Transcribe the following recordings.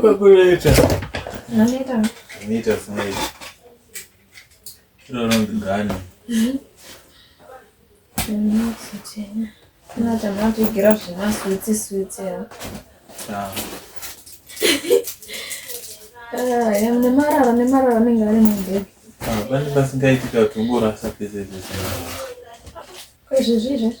Kwakuneta. Aneta. Aneta smile. Chiro ronzi gani. Aneta matigira zvema switsi switsi ya. Ah. Ah, ya mne marara ne marara ne ngari ne bebe. Ah, bani basingaiti ka tungora sapese pese. Kwezvezvizvi.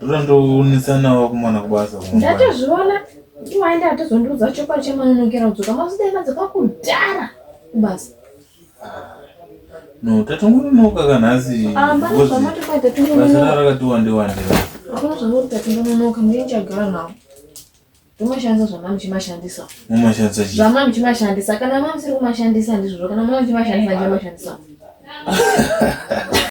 ndotondoonetsanawo kumwana kubasa ndatozviona iwaenda atozondiudza chokwadi chemanonokera kudzoka mazidai madzoka kudhara kubasa No, tatongononoka ka nhasi. Ah, pane Because zvamati kwai basa tatongononoka. rara rakati wande wande. Hakuna zvamuri tatongononoka, mune chagara nawo. Tomashandisa zvamami chimashandisa. Mumashandisa chii? Zvamami chimashandisa. Kana mami siri kumashandisa ndizvozvo, kana mami chimashandisa ndichamashandisa.